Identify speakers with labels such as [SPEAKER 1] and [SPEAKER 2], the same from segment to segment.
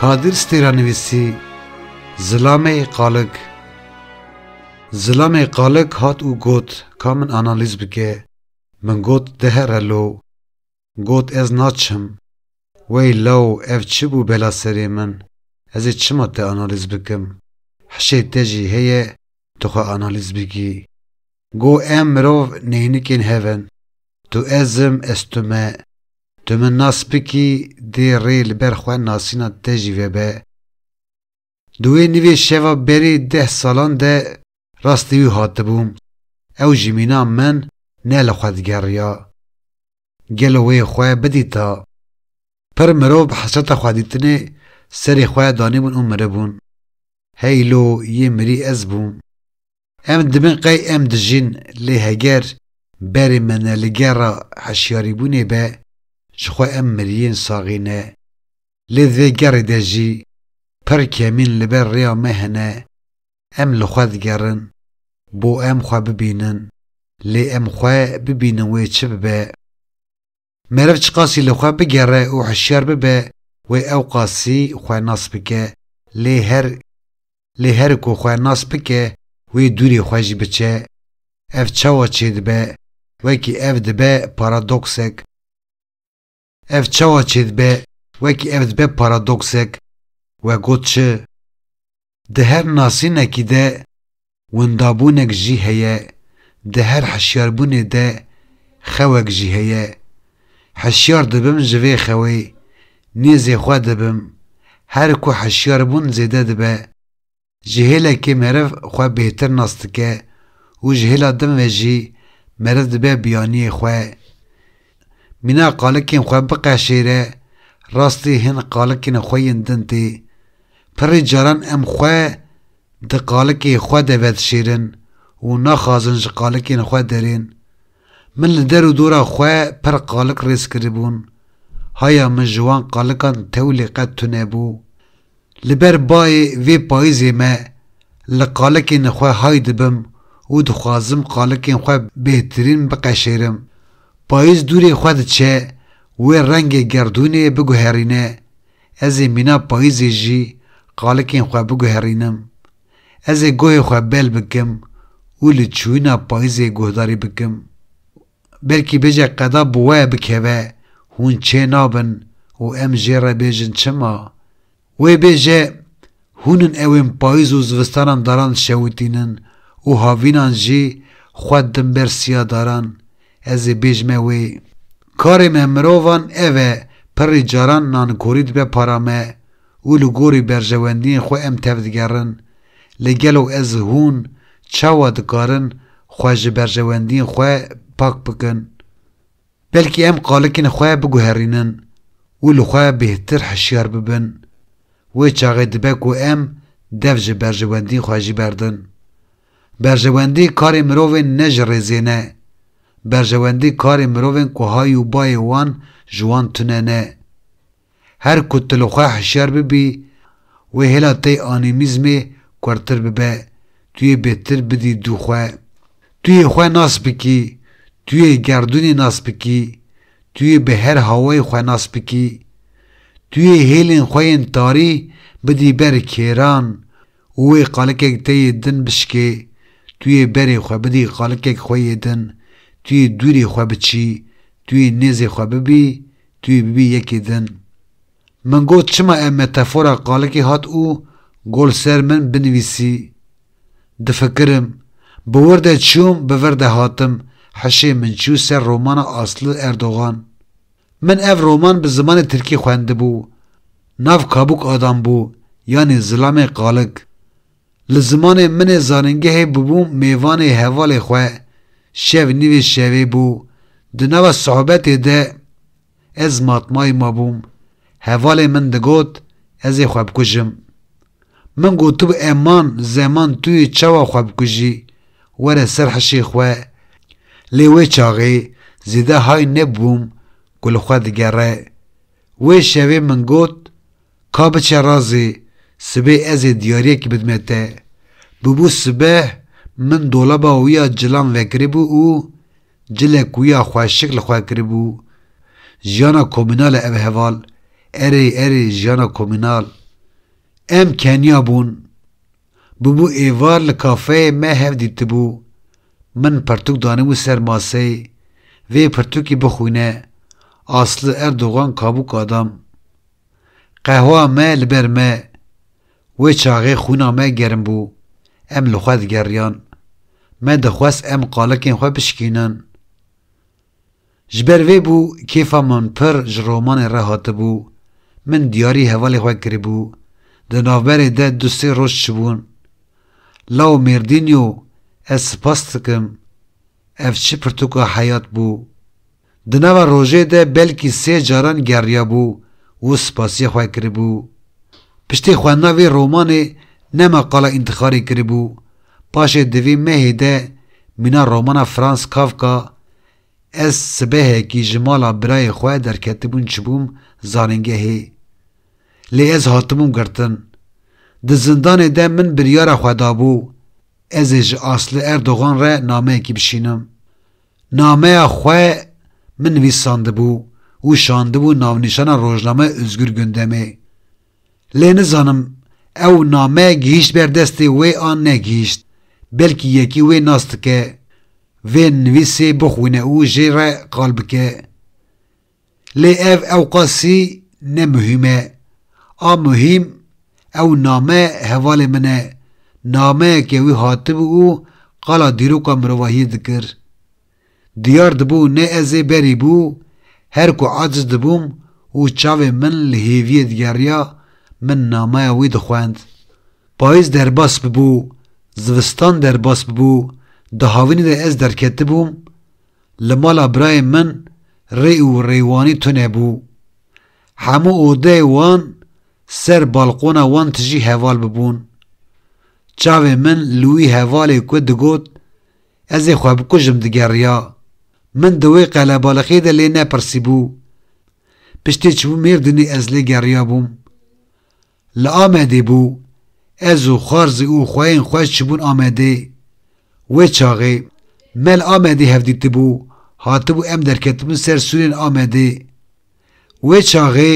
[SPEAKER 1] Kadir Stêranivîsî Zilamê Qalig Zilamê Qalig hat û got ka min analîz bike, min got dihere lo, Got ez naçim. Wey law ev çi bû bela serê min, ez ê çima te analîz bikim. Hişê te jî heye tu xwe analîz bikî. Go em mirov neynikên hev in. Tu ez im, ez tu me. Tu min nas bikî dê rê li ber xwe nasîna te jî vebe. Di wê nivê şeva berê deh salan de rastî wî hatibûm, ew ji mîna min ne li xwe digeriya. Gelo wê xwe bidîta? Pir mirov bi hesreta xwedîtinê serê xwe danîbûn û miribûn. Heylo yê mirî ez bûm. Em dibin qey em dijîn lê heger berê me ne li gerra heşyarîbûnê be ji xwe em miriyên saxî ne. Lê di vê gerrê de jî pir kemîn li ber rêya me hene, em li xwe digerin bo em xwe bibînin lê em xwe bibînin wê çi bibe. Meriv çiqasî li xwe bigere û hişyar bibe wê ewqasî xwe nas bike lê her lê her ku xwe nas bike wê dûrê xwe jî biçe. Ev çawa çêdibe? Wekî ev dibe paradoksek Ev çawa çêdibe? Wekî ev dibe paradoksek We got çi? Di her nasînekî de windabûnek jî heye, di her hişyarbûnê de xewek jî heye. Hişyar dibim ji vê xewê, nêzê xwe dibim. Her ku hişyarbûn zêde dibe, ji hêlekê meriv xwe bêhtir nas dike û ji hêla din ve jî meriv dibe biyaniyê xwe. Mîna qalikên xwe biqeşêre, rastî hin qalikên xwe yên din tê. Pirrî caran em xwe di qalikê xwe de vedişêrin û naxwazin ji qalikên xwe derên. Min li der û dora xwe pir qalik rêz kiribûn. Haya min ji wan qalikan tewlê qet tunebû. Li ber bayê vê payîzê me li qalikên xwe hay dibim û dixwazim qalikên xwe bêhtirîn biqeşêrim. Payîz dûrê xwe diçe, wê rengê gerdûnê biguherîne, ez ê mîna payîzê jî qalikên xwe biguherînim. Ez ê gohê xwe bel bikim û li çûyîna payîzê guhdarî bikim. Belkî bêje qeda bi we bikeve, hûn çê nabin û em jê re bêjin çima? Wê bêje, Hûn in ewên payîz û zivistanan daran şewitînin û havînan jî xwe din ber siya daran. Ez ê bêjme wê. Karê me mirovan ev e, pirrî caran nankorî dibe para me. û li gorî berjewendiyên xwe em tevdigerin, lê gelo ez û hûn çawa dikarin xwe ji berjewendiyên xwe pak bikin? Belkî em qalikên xwe biguherînin û li xwe bêhtir hişyar bibin. Wê çaxê dibe ku em dev ji berjewendiyên xwe jî berdin. Berjewendî karê mirovên ne ji rêzê ne. Berjewendî karê mirovên ku hay û bayê wan ji wan tune ne. Her ku tu li xwe hişyar bibî, wê hêla te yê anîmîzmê kurtir bibe, tu yê bêtir bidî dû xwe. Tu yê xwe nas bikî, tu yê gerdûnê nas bikî, tu yê bi her hawayê xwe nas bikî. Tu yê hêlên xwe yên tarî bidî ber kêran û wê qalikek te yê din bişikê, tu yê berê xwe bidî qalikek xwe yê din, tu yê dûrê xwe biçî, tu yê nêzê xwe bibî, tu yê bibî yekê din. Min got çima ev metefora qalikê hat û got li ser min binivîsî. Difikirim, bi wir de çûm bi vir de hatim, hişê min çû ser romana Aslı Erdogan. Min ev roman bi zimanê tirkî xwendibû, nav Kabuk Adam bû yanî Zilamê Qalig. Li zimanê min ê zanîngehê bûbû mêvanê hevalê xwe, şev nîvê şevê bû, di nava sohbetê de ez matmayî mabûm, hevalê min digot ez ê xwe bikujim. Min gotibû eman zeman tu yê çawa xwe bikujî, were ser hişê xwe, lê wê çaxê zêde hay nebûm ku li xwe digere. Wê şevê min got, Ka biçe razê, sibê ez ê diyariyekî bidime te. Bûbû sibeh, min dolaba wî ya cilan vekiribû û Cilek wiya xwe şik li xwe kiribû, jiyana komînal e ev heval, erê erê jiyana komînal. Em keniya bûn. Bûbû êvar li kafeyê me hev dîtibû. Min pirtûk danîbû ser masey, vê pirtûkî bixwîne, Aslı Erdogan kabuk adam. Qehwa me li ber me. Wê çaxê xwîna me germ bû, em li xwe digeriyan. Me dixwest em qalikên xwe bişikînin. Ji ber vê bû kêfa min pir ji romanê re hatibû. Min diyarî hevalê xwe kiribû. Di navberê de du sê roj çibûn. Lao Mêrdînyo ez sipas dikim. Ev çi pirtûka heyat bû. Di nava rojê de belkî sê caran geriyabû û spasiyê xwe kiribû. Piştî xwendina vê romanê nema qala întixarê kiribû, paşê di vê mehê de mîna romana Franz Kafka Ez sibehekî ji mala birayê xwe derketibûn çibûm zanîngehê. Lê ez hatibûm girtin. Di zindanê de min biryara xwe dabû ez ê ji Aslı Erdogan re nameyekî bişînim. Nameya xwe min nivîsandibû û şandibû navnîşana rojnameya Ozgur Gundemê. Lê nizanim ew name gihîşt ber destê wê an negihîşt, belkî yekî wê nas dike vê nivîsê bixwîne û jê re qal bike. Lê ev ewqasî ne muhîm e. A muhîm ew name hevalê min e, nameyeke wî hatibû û qala dîroka mirovahiyê dikir. Diyar dibû ne ez ê berî bû, her ku aciz dibûm û çavên min li hêviyê digeriya, min nameya wî dixwend. Payîz derbas bibû, zivistan derbas bibû, di havînê de ez derketibûm, Li mala birayên min rê û rêwanî tune bû. Hemû odeyê wan ser balqona wan tijî heval bibûn. Çavên min li wî hevalê ku digot ez ê xwe bikujim digeriya. Min di wê qelebaliqê de lê nepirsîbû. Piştî çibû Mêrdînê ez lê geriya bûm. Li Amedê bû, ez û Xwarzî û xweyên xwe çibûn Amedê. Wê çaxê, me li Amedê hevdîtibû, hatibû em derketibûn ser sûrên Amedê. Wê çaxê,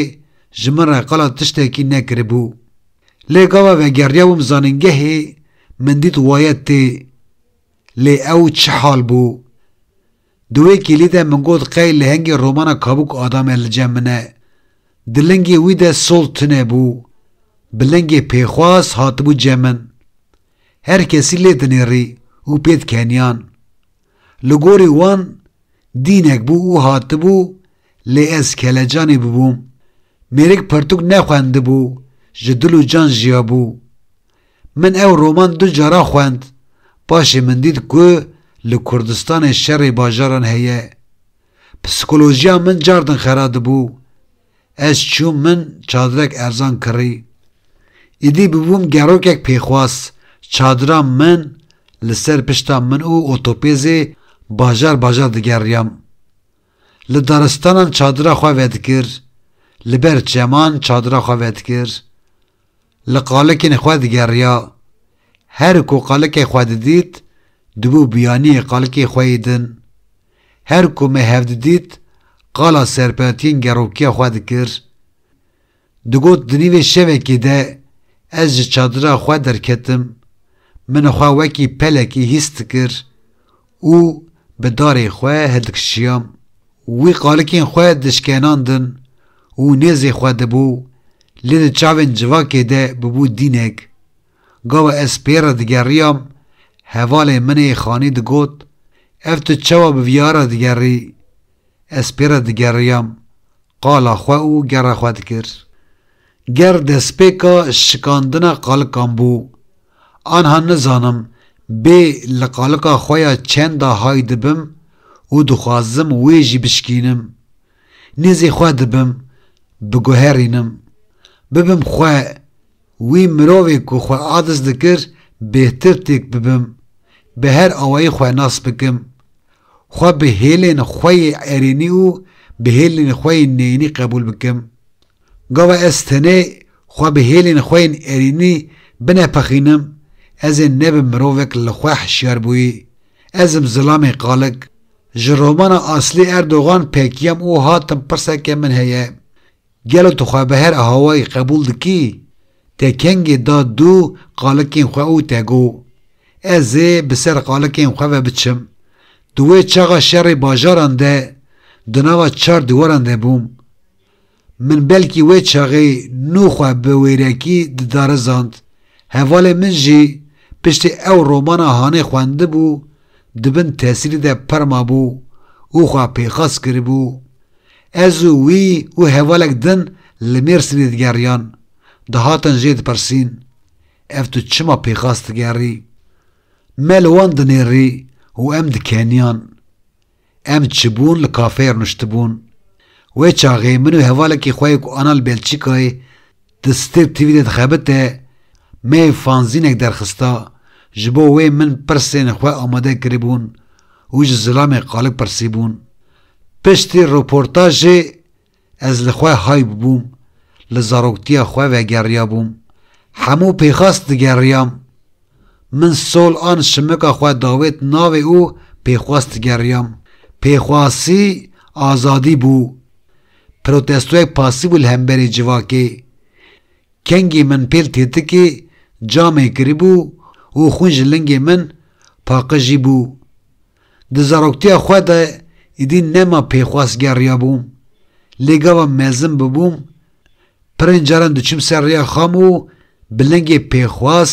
[SPEAKER 1] ji min re qala tiştekî nekiribû. Lê gava vegeriyabûm zanîngehê, min dît waye tê. Lê ew çi hal bû? Di wê kêlî de min got qey lehengê romana Kabûk Adame li cem min e. Di lingê wî de sol tune bû. Bi lingê pêxwas hatibû cem min. Her kesî lê dinêrî û pê dikeniyan. Li gorî wan dînek bû û hatibû lê ez kelecanî bibûm. Mêrik pirtûk nexwendibû, ji dil û can jiyabû. Min ew roman du caran xwend, paşê min dît ku li Kurdistanê şerê bajaran heye. Psîkolojiya min car din xera dibû. Ez çûm min çadirek erzan kirî. Îdî bûbûm gerokek pêxwas, çadira min li ser pişta min û otopêzê bajar bajar digeriyam. Li daristanan çadira xwe vedikir, li ber çeman çadira xwe vedikir. Li qalikên xwe digeriya. Her ku qalikê xwe didît, dibû biyanîyê qalikê xwe yê din. Her ku me hev didît, qala serpetiyên gerokiya xwe dikir. Digot di nîvê şevekê de ez ji çadira xwe derketim. Min xwe wekî pelekî hîs dikir. û bi darê xwe hildikişiyam, wî qalikên xwe dişkenandin û nêzê xwe dibû, lê di çavên civakê de bûbû dînek. Gawa ez pê re digeriyam, hevalê min ê xanî digot, Ev tu çawa bi vîya re digerî? Ez pê re digeriyam, qala xwe û gera xwe dikir. Ger destpêka şikandina qalikan bû, anha nizanim bê li qalika xwe ya çenda hay dibim û dixwazim wê jî bişkînim. Nêzî xwe dibim, biguherînim. Bibim xwe, wî mirovê ku xwe adis dikir bêhtir têk bibim, bi her awayî xwe nas bikim. Xwe bi hêlên xwe yê erênî û bi hêlên xwe yê neyînî qebûl bikim. Gava ez tenê xwe bi hêlên xwe yên erînî binepexînim, ez ê nebim mirovek li xwe hişyarbûyî, ez im Zilamê Kalig. Ji romana Aslî Erdogan pekiyam û hatim pirseke min heye, gelo tu xwe bi her ahawayî qebûl dikî? Te kengê da dû qalikên xwe û te got, Ez ê bi ser qalikên xwe ve biçim. Di wê çaxa şerê bajaran de di nava çar dîwaran de bûm. Min belkî wê çaxê nû xwe bi wêrekî didarizand. Hevalên min jî piştî ew romana hanê xwendibû di bin tesîrî de pir mabû û xwe pêxas kiribû. Ez û wî û hevalek din li Mêrsînê digeriyan. Dihatin jê dipirsîn, Ev tu çima pêxas digerî? Me li wan dinêrî û em dikeniyan. Em çibûn li kafeyê rûniştibûn. Wê çaxê min û hevalekî xwe yê ku ana li Belçîkayê di Stir TV de dixebite me yê fanzînek derxista, ji bo wê min pirsên xwe amade kiribûn û ji zilamê qalik pirsîbûn. Piştî rûportajê Ez li xwe hay bûbûm, li zaroktiya xwe vegeriyabûm, hemû pêxas digeriyam. Min sol an şimika xwe dawêt navê û pêxwas digeriyam. Pêxwasî azadî bû. Protestoyek pasî bû li hemberî civakê. Kengî min pêl têtikî camê kiribû û xwîn ji lingê min paqijîbû. Di zaroktiya xwe de êdî nema pêxwas geriyabûm, lê gava mezin bibûm, pirên caran diçûm ser rêya xam û bi lingê pêxwas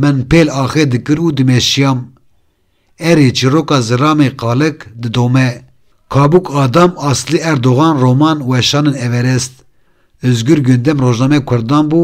[SPEAKER 1] min pêl axê dikir û dimeşiyam. Erê çîroka ziramê qalik didome. Kabûk Adam Asli Erdogan roman Weşanên Everest, Ozgur Gündem rojname kurdan bû